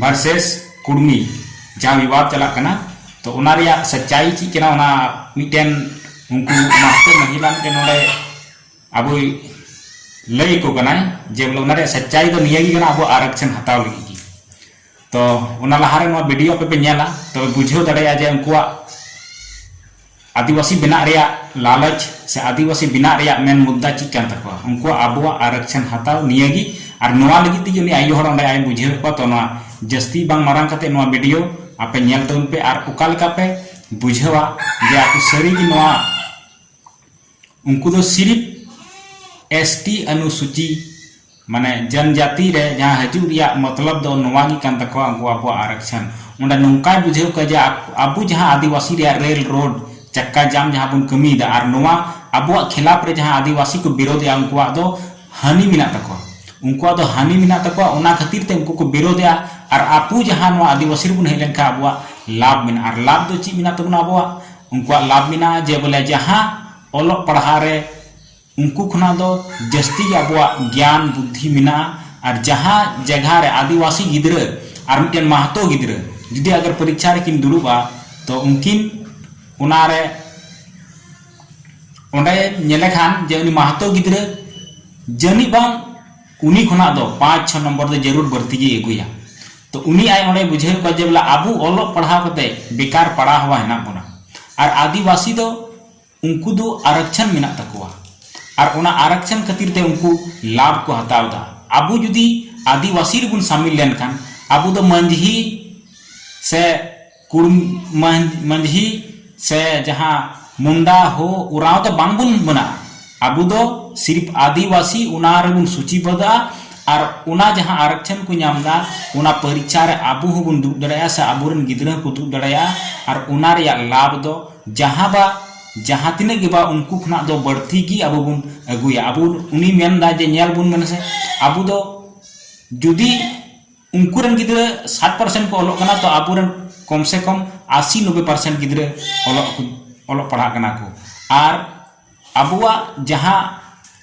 Versus ᱠᱩᱲᱢᱤ ᱡᱟᱦᱟᱸ ᱵᱤᱵᱟᱫ ᱪᱟᱞᱟᱜ ᱠᱟᱱᱟ ᱛᱚ ᱚᱱᱟ ᱨᱮᱭᱟᱜ ᱥᱟᱪᱟᱭ ᱪᱮᱫ ᱠᱟᱱᱟ ᱚᱱᱟ ᱢᱤᱫᱴᱮᱱ ᱩᱱᱠᱩ ᱢᱟᱦᱛᱮ ᱢᱟᱹᱦᱤᱞᱟ ᱢᱤᱫᱴᱮᱱ ᱱᱚᱰᱮ ᱟᱵᱚᱭ ᱞᱟᱹᱭ ᱟᱠᱚ ᱠᱟᱱᱟᱭ ᱡᱮ ᱵᱚᱞᱮ ᱚᱱᱟ ᱨᱮᱭᱟᱜ ᱥᱟᱪᱟᱭ ᱫᱚ ᱱᱤᱭᱟᱹ ᱜᱮ ᱠᱟᱱᱟ ᱟᱵᱚ ᱟᱨᱟᱠᱥᱮᱱ ᱦᱟᱛᱟᱣ ᱞᱟᱹᱜᱤᱫ ᱜᱮ ᱛᱚ ᱚᱱᱟ ᱞᱟᱦᱟᱨᱮ ᱱᱚᱣᱟ ᱵᱷᱤᱰᱤᱭᱳ ᱟᱯᱮ ᱯᱮ ᱧᱮᱞᱟ ᱛᱚᱵᱮ ᱵᱩᱡᱷᱟᱹᱣ ᱫᱟᱲᱮᱭᱟᱜᱼᱟ ᱡᱮ ᱩᱱᱠᱩᱣᱟᱜ ᱟᱹᱫᱤᱵᱟᱹᱥᱤ ᱵᱮᱱᱟᱜ ᱨᱮᱭᱟᱜ ᱞᱟᱞᱚᱪ ᱥᱮ ᱟᱹᱫᱤᱵᱟᱹᱥᱤ ᱵᱮᱱᱟᱜ ᱨᱮᱭᱟᱜ ᱢᱮᱱ ᱢᱩᱫᱽᱫᱟ ᱪᱮᱫ ᱠᱟᱱ ᱛᱟᱠᱚᱣᱟ ᱩᱱᱠᱩᱣᱟᱜ ᱟᱵᱚᱣᱟᱜ ᱟᱨᱚᱠᱪᱷᱚᱱ ᱦᱟᱛᱟᱣ ᱱᱤᱭᱟᱹ ᱜᱮ ᱟᱨ ᱱᱚᱣᱟ ᱞᱟᱹᱜᱤᱫ ᱛᱮᱜᱮ ᱩᱱᱤ ᱟᱭᱳ ᱦᱚᱲ ᱚᱸᱰᱮ ᱟᱡ ᱮ ᱵᱩᱡᱷᱟᱹᱣ ᱮᱫ ᱠᱚᱣᱟ ᱛᱚ ᱱᱚᱣᱟ ᱡᱟᱹᱥᱛᱤ ᱵᱟᱝ ᱢᱟᱨᱟᱝ ᱠᱟᱛᱮ ᱱᱚᱣᱟ ᱵᱷᱤᱰᱤᱭᱳ ᱟᱯᱮ ᱧᱮᱞ ᱛᱟᱵᱚᱱ ᱯᱮ ᱟᱨ ᱚᱠᱟ ᱞᱮᱠᱟ ᱯᱮ ᱵᱩᱡᱷᱟᱹᱣᱟ ᱡᱮ ᱟᱯᱮ ᱥᱟᱹᱨᱤ ᱜᱮ ᱱᱚᱣᱟ ᱩᱱᱠᱩ ᱫᱚ ᱥᱤᱨᱤᱯ ᱮᱥ ᱴᱤ ᱟᱱᱩᱥᱩᱪᱤ ᱢᱟᱱᱮ ᱡᱟᱱᱡᱟᱛᱤ ᱨᱮ ᱡᱟᱦᱟᱸ ᱦᱟᱡᱩᱜ ᱨᱮᱭᱟᱜ ᱢᱚᱛᱞᱚᱵ ᱫᱚ ᱱᱚᱣᱟ ᱜᱮ ᱠᱟᱱ ᱛᱟᱠᱚᱣᱟ ᱩᱱᱠᱩ ᱟᱵᱚᱣᱟᱜ ᱟᱨᱟᱠᱥᱟᱱ ᱚᱸᱰᱮ ᱱᱚᱝᱠᱟᱭ ᱵᱩᱡᱷᱟᱹᱣ ᱠᱚᱣᱟ ᱡᱮ ᱟᱵᱚ ᱡᱟᱦᱟᱸ ᱟᱫᱤᱵᱟᱥᱤ ᱨᱮᱭᱟᱜ ᱨᱮᱞ ᱨᱳᱰ ᱪᱟᱠᱠᱟ ᱡᱟᱢ ᱡᱟᱦᱟᱸ ᱵᱚᱱ ᱠᱟᱹᱢᱤ ᱮᱫᱟ ᱟᱨ ᱱᱚᱣᱟ ᱟᱵᱚᱣᱟᱜ ᱠᱷᱮᱞᱟᱯ ᱨᱮ ᱡᱟᱦᱟᱸ ᱟᱫᱤᱵᱟᱥᱤ ᱠᱚ ᱵᱤᱨᱚᱫᱷ ᱮᱫᱟ ᱩᱱᱠᱩᱣᱟᱜ ᱫᱚ ᱦᱟᱹᱱᱤ ᱢᱮᱱᱟᱜ ᱛᱟᱠᱚᱣᱟ ᱩᱱᱠᱩᱣᱟᱜ ᱫᱚ ᱦᱟᱹᱱᱤ ᱢᱮᱱᱟᱜ ᱛᱟᱠᱚᱣᱟ ᱚᱱᱟ ᱠᱷᱟᱹᱛᱤᱨ ᱛᱮ ᱩᱱᱠᱩ ᱠᱚ ᱵᱤᱨᱚᱫᱷ ᱮᱫᱟ ᱟᱨ ᱟᱵᱚ ᱡᱟᱦᱟᱸ ᱱᱚᱣᱟ ᱟᱫᱤᱵᱟᱥᱤ ᱨᱮᱵᱚᱱ ᱦᱮᱡ ᱞᱮᱱᱠᱷᱟᱱ ᱟᱵᱚᱣᱟᱜ ᱞᱟᱵᱷ ᱢᱮᱱᱟᱜᱼᱟ ᱟᱨ ᱞᱟᱵᱷ ᱫᱚ ᱪᱮᱫ ᱢᱮᱱᱟᱜ ᱛᱟᱵᱚᱱᱟ ᱟᱵᱚᱣᱟᱜ ᱩᱱᱠᱩᱣᱟᱜ ᱞᱟᱵᱷ ᱢᱮᱱᱟᱜᱼᱟ ᱡᱮ ᱵᱚᱞᱮ ᱡᱟᱦᱟᱸ ᱚᱞᱚᱜ ᱯᱟᱲᱦᱟᱣ ᱨᱮ ᱩᱱᱠᱩ ᱠᱷᱚᱱᱟᱜ ᱫᱚ ᱡᱟᱹᱥᱛᱤ ᱜᱮ ᱟᱵᱚᱣᱟᱜ ᱜᱮᱭᱟᱱ ᱵᱩᱫᱽᱫᱷᱤ ᱢᱮᱱᱟᱜᱼᱟ ᱟᱨ ᱡᱟᱦᱟᱸ ᱡᱟᱭᱜᱟ ᱨᱮ ᱟᱹᱫᱤᱵᱟᱹᱥᱤ ᱜᱤᱫᱽᱨᱟᱹ ᱟᱨ ᱢᱤᱫᱴᱮᱱ ᱢᱟᱦᱟᱛᱚ ᱜᱤᱫᱽᱨᱟᱹ ᱡᱩᱫᱤ ᱟᱜᱟᱨ ᱯᱚᱨᱤᱠᱠᱷᱟ ᱨᱮᱠᱤᱱ ᱫᱩᱲᱩᱵᱼᱟ ᱛᱚ ᱩᱱᱠᱤᱱ ᱚᱱᱟ ᱨᱮ ᱚᱸᱰᱮ ᱧᱮᱞᱮ ᱠᱷᱟᱱ ᱡᱮ ᱩᱱᱤ ᱢᱟᱦᱟᱛᱚ ᱜᱤᱫᱽᱨᱟᱹ ᱡᱟᱹᱱᱤᱡ ᱵᱟᱝ ᱩᱱᱤ ᱠᱷᱚᱱᱟᱜ ᱫᱚ ᱯᱟᱸᱪ ᱪᱷᱚ ᱱᱚᱢᱵᱚᱨ ᱫᱚ ᱡᱟᱹᱨᱩᱲ ᱵᱟᱹᱲᱛᱤ ᱜᱮᱭ ᱟᱹᱜᱩᱭᱟ᱾ ᱛᱚ ᱩᱱᱤ ᱟᱡ ᱚᱸᱰᱮᱭ ᱵᱩᱡᱷᱟᱹᱣᱮᱫ ᱠᱚᱣᱟ ᱡᱮ ᱵᱚᱞᱮ ᱟᱵᱚ ᱚᱞᱚᱜ ᱯᱟᱲᱦᱟᱣ ᱠᱟᱛᱮ ᱵᱮᱠᱟᱨ ᱯᱟᱲᱟ ᱦᱟᱣᱟ ᱦᱮᱱᱟᱜ ᱵᱚᱱᱟ᱾ ᱟᱨ ᱟᱹᱫᱤᱵᱟᱹᱥᱤ ᱫᱚ ᱩᱱᱠᱩ ᱫᱚ ᱟᱨᱚᱠᱪᱷᱚᱱ ᱢᱮᱱᱟᱜ ᱛᱟᱠᱚᱣᱟ᱾ ᱟᱨ ᱚᱱᱟ ᱟᱨᱚᱠᱪᱷᱚᱱ ᱠᱷᱟᱹᱛᱤᱨ ᱛᱮ ᱩᱱᱠᱩ ᱞᱟᱵᱷ ᱠᱚ ᱦᱟᱛᱟᱣ ᱮᱫᱟ᱾ ᱟᱵᱚ ᱡᱩᱫᱤ ᱟᱹᱫᱤᱵᱟᱹᱥᱤ ᱨᱮᱵᱚᱱ ᱥᱟᱢᱤᱞ ᱞᱮᱱᱠᱷᱟᱱ ᱟᱵᱚ ᱫᱚ ᱢᱟᱹᱱᱡᱷᱤ ᱥᱮ ᱠᱩᱲᱢᱟᱹᱡᱷᱤ ᱥᱮ ᱡᱟᱦᱟᱸ ᱢᱩᱱᱰᱟ ᱦᱳ ᱳᱨᱟᱶ ᱫᱚ ᱵᱟᱝ ᱵᱚᱱ ᱢᱮᱱᱟᱜᱼᱟ ᱟᱵᱚ ᱫᱚ ᱥᱤᱨᱯ ᱟᱹᱫᱤᱵᱟᱹᱥᱤ ᱚᱱᱟ ᱨᱮ ᱵᱚᱱ ᱥᱩᱪᱤ ᱵᱚᱫᱷᱚᱜᱼᱟ ᱟᱨ ᱚᱱᱟ ᱡᱟᱦᱟᱸ ᱟᱨᱚᱠᱪᱷᱚᱱ ᱠᱚ ᱧᱟᱢ ᱮᱫᱟ ᱚᱱᱟ ᱯᱚᱨᱤᱠᱷᱟ ᱨᱮ ᱟᱵᱚ ᱦᱚᱸ ᱵᱚᱱ ᱫᱩᱲᱩᱵ ᱫᱟᱲᱮᱭᱟᱜᱼᱟ ᱥᱮ ᱟᱵᱚ ᱨᱮᱱ ᱜᱤᱫᱽᱨᱟᱹ ᱦᱚᱸ ᱠᱚ ᱫᱩᱲᱩᱵ ᱫᱟᱲᱮᱭᱟᱜᱼᱟ ᱟᱨ ᱚᱱᱟ ᱨᱮᱭᱟᱜ ᱞᱟᱵᱷ ᱫᱚ ᱡᱟᱦᱟᱸ ᱵᱟ ᱡᱟᱦᱟᱸ ᱛᱤᱱᱟᱹᱜ ᱜᱮ ᱵᱟ ᱩᱱᱠᱩ ᱠᱷᱚᱱᱟᱜ ᱫᱚ ᱵᱟᱹᱲᱛᱤ ᱜᱮ ᱟᱵᱚ ᱵᱚᱱ ᱟᱹᱜᱩᱭᱟ ᱟᱵᱚ ᱩᱱᱤ ᱢᱮᱱ ᱮᱫᱟᱭ ᱡᱮ ᱧᱮᱞ ᱵᱚᱱ ᱢᱮᱱᱮᱥᱮ ᱟᱵᱚ ᱫᱚ ᱡᱩᱫᱤ ᱩᱱᱠᱩ ᱨᱮᱱ ᱜᱤᱫᱽᱨᱟᱹ ᱥᱟᱴ ᱯᱟᱨᱥᱮᱱᱴ ᱠᱚ ᱚᱞᱚᱜ ᱠᱟᱱᱟ ᱛᱚ ᱟᱵᱚ ᱨᱮᱱ ᱠᱚᱢ ᱥᱮ ᱠᱚᱢ ᱟᱥᱤ ᱱᱚᱵᱽᱵᱮ ᱯᱟᱨᱥᱮᱱᱴ ᱜᱤᱫᱽᱨᱟᱹ ᱚᱞᱚᱜ ᱠᱚ ᱚᱞᱚᱜ ᱯᱟᱲᱦᱟᱜ ᱠᱟᱱᱟ ᱠᱚ ᱟᱨ ᱟᱵᱚᱣᱟᱜ ᱡᱟᱦᱟᱸ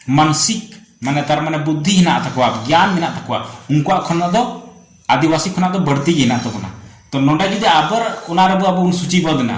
ᱢᱟᱱᱥᱤᱠ ᱢᱟᱱᱮ ᱛᱟᱨ ᱢᱟᱱᱮ ᱵᱩᱫᱽᱫᱷᱤ ᱦᱮᱱᱟᱜ ᱛᱟᱠᱚᱣᱟ ᱜᱮᱭᱟᱱ ᱢᱮᱱᱟᱜ ᱛᱟᱠᱚᱣᱟ ᱩᱱᱠᱩᱣᱟᱜ ᱠᱷᱚᱱᱟᱜ ᱫᱚ ᱟᱹᱫᱤᱵᱟᱹᱥᱤ ᱠᱷᱚᱱᱟᱜ ᱫᱚ ᱵᱟᱹᱲᱛᱤ ᱜᱮ ᱦᱮᱱᱟᱜ ᱛᱟᱵᱚᱱᱟ ᱛᱚ ᱱᱚᱰᱮ ᱡᱩᱫᱤ ᱟᱵᱟᱨ ᱚᱱᱟ ᱨᱮᱵᱚ ᱟᱵᱚ ᱵᱚᱱ ᱥᱩᱪᱤᱵᱟᱫᱷ ᱮᱱᱟ